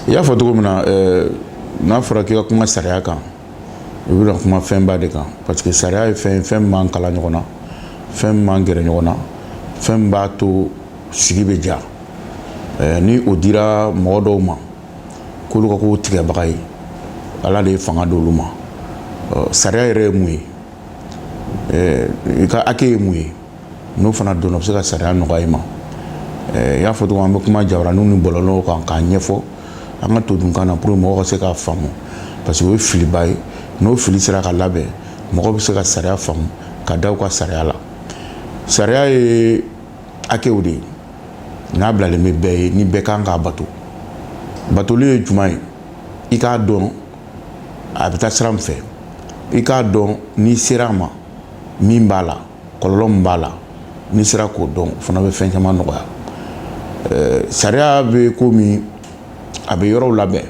i y'a fɔ cogo min na eh, n'a fɔra k'i ka kuma sariya kan i bɛna kuma fɛnba de kan parce que sariya ye fɛn min b'an kala ɲɔgɔn na fɛn min b'an gɛrɛ ɲɔgɔn na fɛn min b'a to sigi bɛ diya eh, ni o dira mɔgɔ dɔw ma k'olu ka k'o tigɛbaga ye ala de ye fanga d'olu ma sariya yɛrɛ ye mun ye i ka hakɛ ye mun ye n'o fana dɔnna o bɛ se ka sariya nɔgɔya i ma i y'a fɔ cogo min na an bɛ kuma jabaranin ni bɔlɔlɔ kan k'a ɲɛfɔ an ka todunkan na pour que mɔgɔw ka se k'a faamu parce que o ye filiba ye n'o fili sera ka labɛn mɔgɔw bɛ se ka sariya faamu ka da u ka sariya la sariya ye hakɛw de ye n'a bilalen bɛ bɛɛ ye ni bɛɛ kan k'a bato batoli ye juma ye i k'a dɔn a bɛ taa sira min fɛ i k'a dɔn n'i sera a ma min b'a la kɔlɔlɔ min b'a la n'i sera k'o dɔn o fana bɛ fɛn caman nɔgɔya eh, sariya bɛ komi a bɛ yɔrɔw labɛn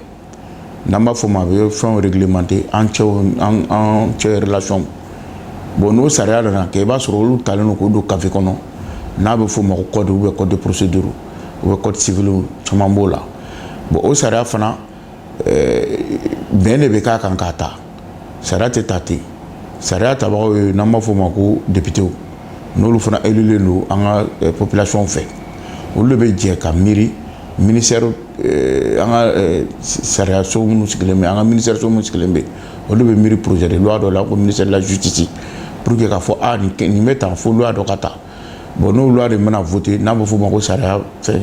n'an b'a fɔ ma a bɛ fɛnw réglementer an cɛ an an cɛ relation bon n'o sariya nana kɛ i b'a sɔrɔ olu talen don k'o don kafe kɔnɔ n'a bɛ f'o ma ko code ou bien code de procédure ou bien code civil caman b'o la bon o sariya fana eh, bɛn de bɛ k'a kan k'a ta Sariya tɛ ta ten sariya tabagaw ye n'an b'a fɔ o ma ko députéw n'olu fana élulen don an ka eh, population fɛ olu de bɛ jɛ ka miiri mini eh, an ka eh, sariyaso minnu sigilen bɛ an ka minisiriso minnu sigilen bɛ olu bɛ miiri projet de loi dɔ la ko ministère de la justice pour que k'a fɔ ah, nin bɛ tan fo loi dɔ ka ta bon n'o loi de mana voter n'a bɛ f'o ma ko sariya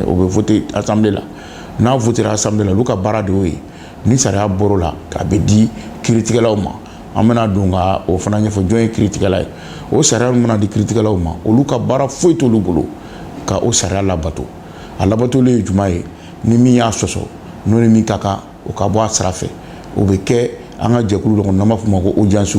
o bɛ voter assemblée la n'a votera assemblée la olu ka baara de ye ni sariya bɔr'o la k'a bɛ di kiritigɛlaw ma an bɛna don ka o fana ɲɛfɔ jɔn ye kiritigɛla ye o sariya min mana di kiritigɛlaw ma olu ka baara foyi t'olu bolo ka o sariya labato a labatoli ye juma ye ni min y'a sɔsɔ n'o ni min ka kan o ka bɔ a sira fɛ o bɛ kɛ an ka jɛkulu dɔ kɔnɔ n'an b'a fɔ ma ko audience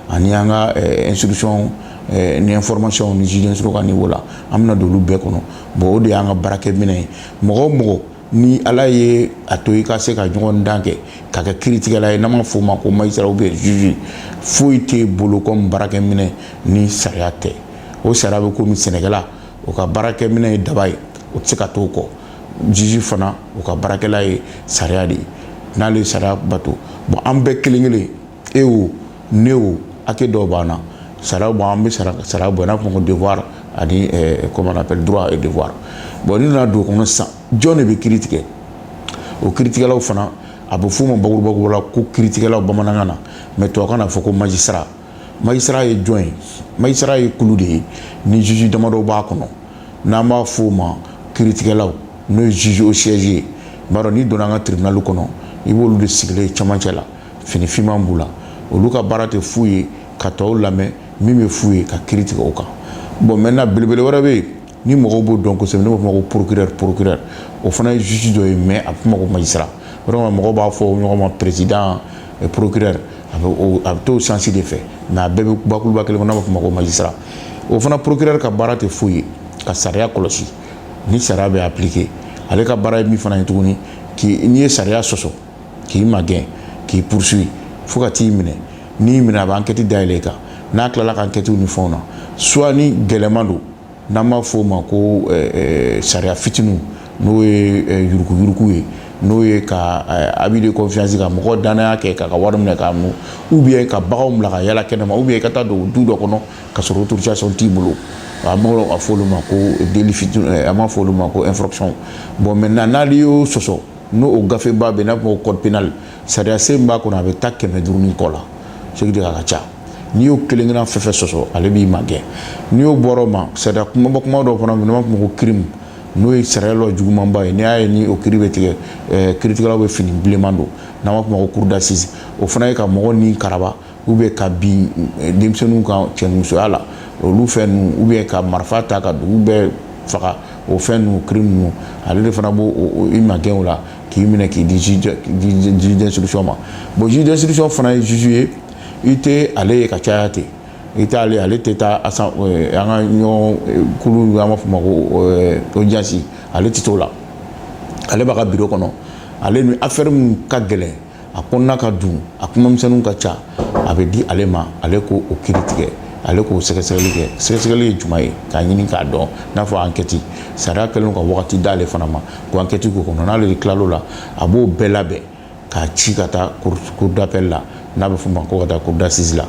ani an ka instruction Eh, ni information ni juge d'instruction ka niveau la an bɛna don olu bɛɛ kɔnɔ bon o de y'an ka baarakɛminɛ ye mɔgɔ o mɔgɔ ni ala ye a to i ka se ka ɲɔgɔndan kɛ ka kɛ kiritigɛla ye n'an b'a f'o ma ko magistrat ou bien juge foyi t'e bolo kɔmi baarakɛminɛ ni sariya tɛ o sariya bɛ komi sɛnɛkɛla o ka baarakɛminɛ ye daba ye o tɛ se ka t'o kɔ juge fana o ka baarakɛla ye sariya de ye n'ale ye sariya bato bon an bɛɛ kelen kelen e wo ne wo hakɛ dɔw b'an na sara bɔ an bɛ sara sara bɔ n'a fɔ devoir ani eh, comment on appelle droit et devoir bon n'i nana don o kɔnɔ sisan jɔn de bɛ kiri tigɛ o kiritigɛlaw fana a bɛ f'o ma bakuruba la ko kiritigɛlaw bamanankan na mais tubabukan na fɔ ko magistrat magistrat ye jɔn ye magistrat ye kulu de ye ni juge damadɔ b'a kɔnɔ n'an b'a f'o ma kiritigɛlaw n'o ye juge au siège ye i b'a dɔn n'i donna an ka tribunal kɔnɔ i b'olu de sigilen cɛmancɛ la fini finman b'u la olu ka baara tɛ fu ye ka tɔw lamɛn min bɛ f'u ye ka kiri tigɛ o kan bon maintenant belebele wɛrɛ bɛ yen ni mɔgɔw b'o dɔn kosɛbɛ ne b'a f'o ma ko procureur procureur o fana ye juge dɔ ye mais a bɛ f'o ma ko magistrat vraiment mɔgɔw b'a fɔ ɲɔgɔn ma président procureur a bɛ a bɛ t'o sens de fɛ mais a bɛɛ bɛ bakuruba kelen kɔnɔ n'a b'a f'o ma ko magistrat o fana procureur ka baara tɛ foyi ye ka sariya kɔlɔsi ni sariya bɛ appliquer ale ka baara ye min fana ye tuguni k'i n'i ye sariya sɔsɔ k'i magɛn k'i poursuivre fo ka t'i minɛ n'i minɛ a bɛ enquête dayɛlɛ i kan n'a tilala ka enquête ni fɛnw na soit ni gɛlɛman don n'an b'a f'o ma ko sariya fitinin n'o ye yuruguyurugu ye n'o ye ka abus de confiance ka mɔgɔ dannaya kɛ k'a ka wari minɛ k'a mun ou bien ka bagan bila ka yala kɛnɛma ou bien ka taa don du dɔ kɔnɔ ka sɔrɔ autorisation t'i bolo a b'a f'o ma ko délit fitinin a b'a f'o ma ko infraction bon maintenant n'ale y'o sɔsɔ n'o o gafeba bɛ n'a b'a f'o ma code pénal sariya sen min b'a kɔnɔ a bɛ taa kɛmɛ duuru ni kɔ la ce qui dit a ka ca n'i y'o kelen kelenna fɛn fɛn sɔsɔ ale b'i magɛn n'i y'o bɔra o ma sariya kumaba kuma dɔw fana minnu b'a fɔ ko crime n'o ye sariya lɔ jugumanba ye n'i y'a ye ni o kiri bɛ tigɛ eh, kiritigɛlaw bɛ fini bilenman don n'an b'a f'o ma ko cour d'assises o fana ye ka mɔgɔ ni karaba ou bien ka bin eh, denmisɛnninw kan cɛnimusoya la olu fɛn ninnu ou bien ka marifa ta ka dugu bɛɛ faga o fɛn ninnu crime ninnu ale de fana b'o i magɛn o la k'i minɛ k'i di juge d'instruction ma bon juge d'instruction fana ye juge ye i tɛ ale ye ka caya ten i t'ale ale tɛ taa asan eh, an ka ɲɔgɔn eh, kulu an b'a f'o ma ko audience ale tɛ t'o la ale b'a ka biro kɔnɔ ale ni affaire min ka gɛlɛn a kɔnɔna ka dun a kumamisɛnninw ka ca a bɛ di ale ma ale k'o kiri tigɛ ale k'o sɛgɛsɛgɛli kɛ sɛgɛsɛgɛli ye jumɛn ye k'a ɲini k'a dɔn n'a fɔ enquête sariya kɛlen ka wagati d'ale fana ma ko enquête k'o kɔnɔ n'ale de tilal'o la a b'o bɛɛ labɛn k'a ci ka taa cour d'appel la n'a bɛ f'o ma ko ka taa cour d'assises la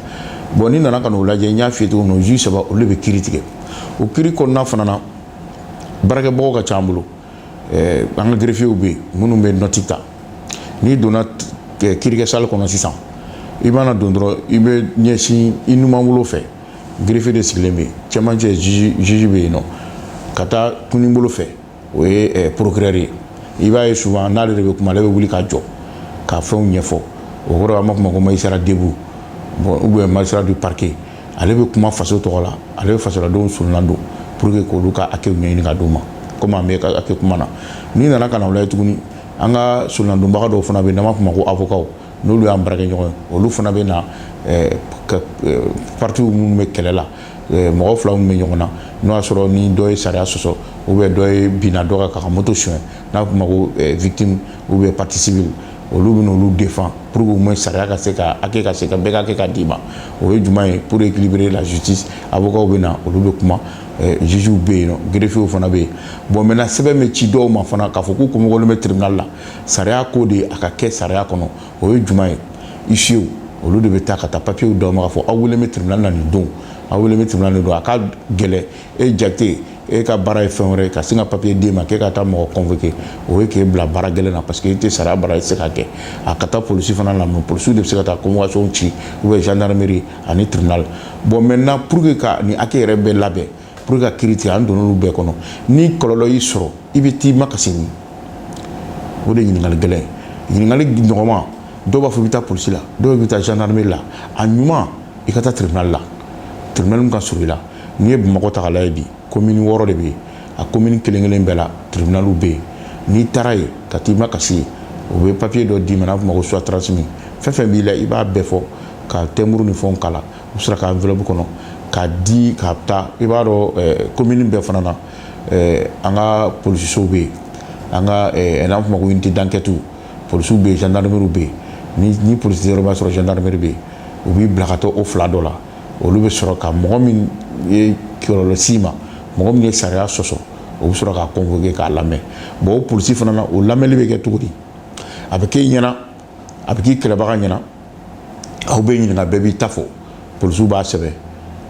bon n'i nana ka n'o lajɛ n y'a f'i ye cogo min na juge saba olu bɛ kiri tigɛ o kiri kɔnɔna fana na baarakɛbagaw ka ca an bolo an ka greffiers bɛ yen minnu bɛ note ta n'i donna kirikɛ salle kɔnɔ sisan i mana don dɔrɔn i bɛ ɲɛsin i numanbolo fɛ greffier de sigilen bɛ yen cɛmancɛ juge bɛ yen nɔ ka taa kininbolo fɛ o ye procureur ye i b'a ye souvent n'ale de bɛ kuma ale bɛ wuli ka jɔ ka fɛnw ɲɛfɔ o yɔrɔ an b'a fɔ ma ko magistrat debout bon ou bien magistrat du parquet ale bɛ kuma faso tɔgɔ la ale bɛ fasodenw soronadon pour que k'olu ka hakɛ ɲɛɲini ka d'u ma kɔmi an bɛ hakɛ kuma na n'i nana ka na o lajɛ tuguni an ka soronadonbaga dɔw fana bɛ n'an b'a fɔ u ma ko avocats n'olu y'an baarakɛɲɔgɔn ye olu fana bɛ na eh, eh, parties minnu bɛ kɛlɛ la eh, mɔgɔ fila minnu bɛ ɲɔgɔn na n'o y'a sɔrɔ ni dɔ ye sariya sɔsɔ ou bien dɔ ye binna dɔ kan k'a ka moto suɲɛ n'a fɔ ma ko victime ou bien partie civile olu bɛ n'olu défendre pour que au moins sariya ka se ka hakɛ ka se ka bɛɛ ka hakɛ ka d'i ma o ye jumɛn ye pour équilibrer la justice avocat bɛ na olu bɛ kuma juges bɛ yen greffiers fana bɛ yen bon maintenant sɛbɛn bɛ ci dɔw ma fana k'a fɔ k'u convoqué bɛ tribunal la sariya ko de a ka kɛ sariya kɔnɔ o ye jumɛn ye huissiers olu de bɛ taa ka taa papiyew d'aw ma k'a fɔ aw wele bɛ tribunal la nin don aw wele bɛ tribunal nin don a ka gɛlɛn e jakite e ka baara ye fɛn wɛrɛ ye ka sin ka papiye d'e ma k'e ka taa mɔgɔ convoquer o ye k'e bila baara gɛlɛn na parce que e tɛ sariya baara e tɛ se k'a kɛ a ka taa polisi fana na mais polisi de bɛ se ka taa convocation ci ou bien gendarmerie ani tribunal bon maintenant pour que ka nin hakɛ yɛrɛ bɛɛ labɛn pour que ka kiri tigɛ an donn'olu bɛɛ kɔnɔ ni kɔlɔlɔ y'i sɔrɔ i bɛ t'i makasi min o de ye ɲininkali gɛlɛn ye ɲininkali nɔgɔman dɔw b'a fɔ i bɛ taa polisi la dɔw bɛ taa gendarmerie la a ɲuman i ka taa tribunal la tribunal min ka surun i la n'i ye bamakɔ ta k'a lajɛ bi Komini wɔɔrɔ de bɛ yen a komini kelenkelen bɛɛ la tiribinali bɛ yen n'i taara yen ka taa i makasi yen o bɛ papiye dɔ d'i ma n'a fɔ ma ko soit transmis fɛn fɛn b'i la i b'a bɛɛ fɔ ka timbre ni fɛnw k'a la u sera ka enveloppe kɔnɔ k'a di ka taa i b'a dɔn komini bɛɛ fana na an ka polisisow bɛ yen an ka n'a fɔ ma ko unité d'enquête polisiw bɛ yen gendarmerie bɛ yen ni polisi yɔrɔ b'a sɔrɔ gendarmerie bɛ yen u b'i bila ka taa o fila dɔ la olu bɛ sɔrɔ ka mɔgɔ min ye kɔlɔlɔ s'i ma mɔgɔ min ye sariya sɔsɔ o bɛ sɔrɔ k'a convoquer k'a lamɛn bon o polisi fana na o lamɛnni bɛ kɛ cogo di a bɛ k'e ɲɛna a bɛ k'i kɛlɛbaga ɲɛna aw bɛ ɲininka bɛɛ b'i ta fɔ polisiw b'a sɛbɛn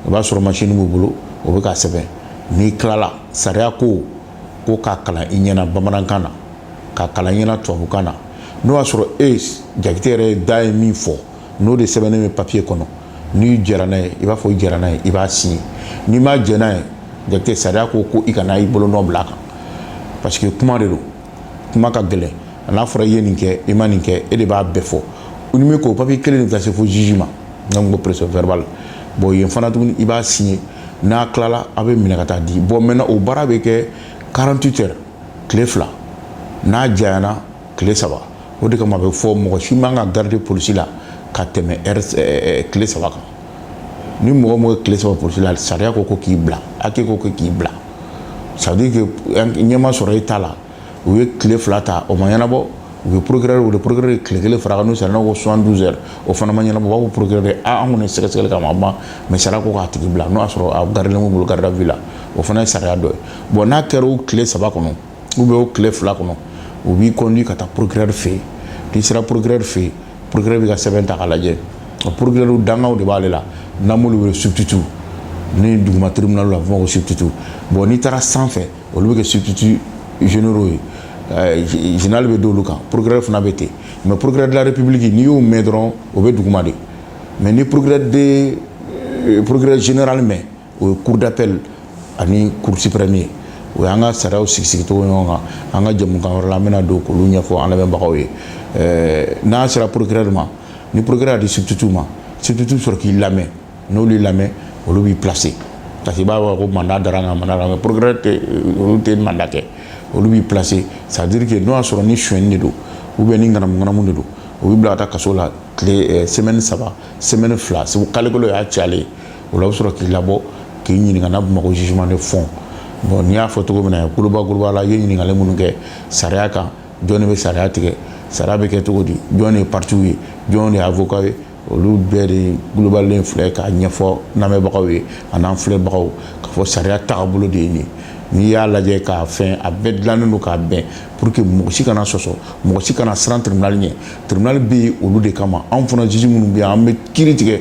o b'a sɔrɔ masini b'u bolo o bɛ k'a sɛbɛn n'i tilala sariya ko ko k'a kalan i ɲɛna bamanankan na k'a kalan i ɲɛna tubabukan na n'o y'a sɔrɔ e jakite yɛrɛ da ye min fɔ n'o de sɛbɛnnen bɛ papiye kɔnɔ n'i jɛra n'a ye i b'a fɔ i jɛra n'a ye i b'a signé n'i ma jɛ n'a ye jakite sariya ko ko i kana i bolonɔ bila a kan parce que kuma de don kuma ka gɛlɛn a n'a fɔra i ye nin kɛ i ma nin kɛ e de b'a bɛɛ fɔ u ni min ko papiye kelen de bɛ taa se fo juge ma n'an ko procès verbal bon yen fana tuguni i b'a signé n'a tilala a bɛ minɛ ka taa di bon maintenant o baara bɛ kɛ 48 heures tile fila n'a janyana tile saba o de kama a bɛ fɔ mɔgɔ si man ka garder polisi la ka tɛmɛ tile saba kan ni mɔgɔ mɔgɔ ye tile saba polisi la sariya ko ko k'i bila hakɛ ko ko k'i bila ça veut dire que ɲɛ ma sɔrɔ i ta la u ye tile fila ta o ma ɲɛnabɔ u ye procureur wele procureur ye tile kelen fara kan n'o sariya ko 72 heures o fana ma ɲɛnabɔ u b'a fɔ procureur ye a an kɔni ye sɛgɛsɛgɛli k'a ma ban mais sariya ko k'a tigi bila n'o y'a sɔrɔ a gardelen b'u bolo garde à vue la o fana ye sariya dɔ ye bon n'a kɛra o tile saba kɔnɔ ou bien o tile fila kɔnɔ u b'i conduit ka taa procureur fɛ yen n'i sera procureur fɛ yen procureur b'i ka sɛbɛn ta k'a lajɛ o procureur dankanw de b'ale la n'an b'olu wele substitut ni duguma tribunal la a bɛ fɔ ko substitut bon n'i taara sanfɛ olu bɛ kɛ substituts généraux ye eh, général bɛ d'olu kan procureur fana bɛ ten mais procureur de la république n'i y'o mɛn dɔrɔn o bɛ duguma de mais ni procureur de eh, procureur général mɛn o ye cour d'appel ani cour suprême ye o y'an ka sariyaw sigisigicogo ɲɔgɔn kan an ka jɛmukan wɛrɛ la an bɛna don k'olu ɲɛfɔ an lamɛnbagaw ye n'a sera procureur ma ni procureur a di substitut ma substitut sɔrɔ k'i lamɛn n'olu y'i lamɛn olu b'i placer parce que i b'a fɔ ko mandat dara n kan mandat dara procureur olu tɛ mandat kɛ olu b'i placer ça veut dire que n'o y'a sɔrɔ ni sonyɛni de don ou bien ni ŋanamuŋanamu de don u b'i bila ka taa kaso la tile semaine saba semaine fila c'est que kalo kelen y'a cayalen o la u bɛ sɔrɔ k'i labɔ k'i ɲininka n'a bɛ f'o ma ko jugement de fond bon n'i y'a fɔ cogo min na kuluba kuluba la i ye ɲininkali minnu kɛ sariya kan jɔn de bɛ sariya tigɛ sariya bɛ kɛ cogo di jɔn de ye parties ye jɔn de ye avocat ye olu bɛɛ de globalen filɛ k'a ɲɛfɔ lamɛnbagaw ye an'an filɛbagaw k'a fɔ sariya tagabolo de ye nin ye n'i y'a lajɛ k'a fɛn a bɛɛ dilannen don k'a bɛn pour que mɔgɔ si kana sɔsɔ mɔgɔ si kana siran tribunal ɲɛ tribunal bɛ yen olu de kama anw fana juge minnu bɛ yan an bɛ kiri tigɛ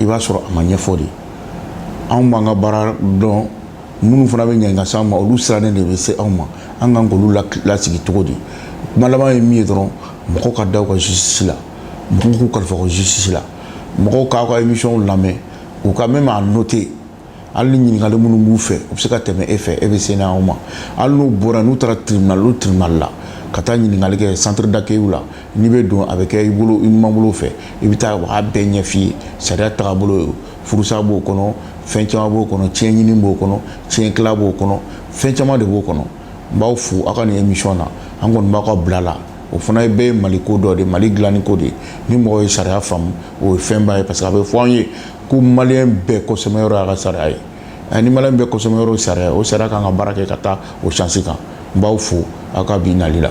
i b'a sɔrɔ a ma ɲɛfɔ de anw b'an ka baara dɔn minnu fana bɛ ɲini ka s'anw ma olu sirannen de bɛ se anw ma an kan k'olu lasigi cogo di kuma laban ye min ye dɔrɔn mɔgɔw ka da u ka justice la mɔgɔw k'u kalifa u ka justice la mɔgɔw k'aw ka émission lamɛn u ka même a noter hali ni ɲininkali minnu b'u fɛ u bɛ se ka tɛmɛ e fɛ e bɛ se n'aw ma hali n'u bɔra n'u taara tribunal o tribunal la ka taa ɲininkali kɛ centre d'accueil la n'i bɛ don a bɛ kɛ i bolo i numanbolo fɛ i bɛ taa u b'a bɛɛ ɲɛf'i ye sariya tagabolo furusa b'o kɔnɔ fɛn caman b'o kɔnɔ tiɲɛ ɲini b'o kɔnɔ tiɲɛ tila b'o kɔnɔ fɛn caman de b'o kɔnɔ n b'aw fo aw ka nin émission na an kɔni b'aw ka bila la o fana bɛɛ ye mali ko dɔ de mali dilanni ko de ni mɔgɔ ye sariya faamu o ye fɛnba ye parce que a bɛ fɔ an ye ko maliyɛn bɛɛ kɔsɛmɛyɔrɔ y'a ka sariya ye eh, ni maliyɛn bɛɛ kɔsɛmɛyɔrɔ ye sariya ye o sariya kan ka baara kɛ ka taa o sens kan n b'aw fo aw ka bi nali la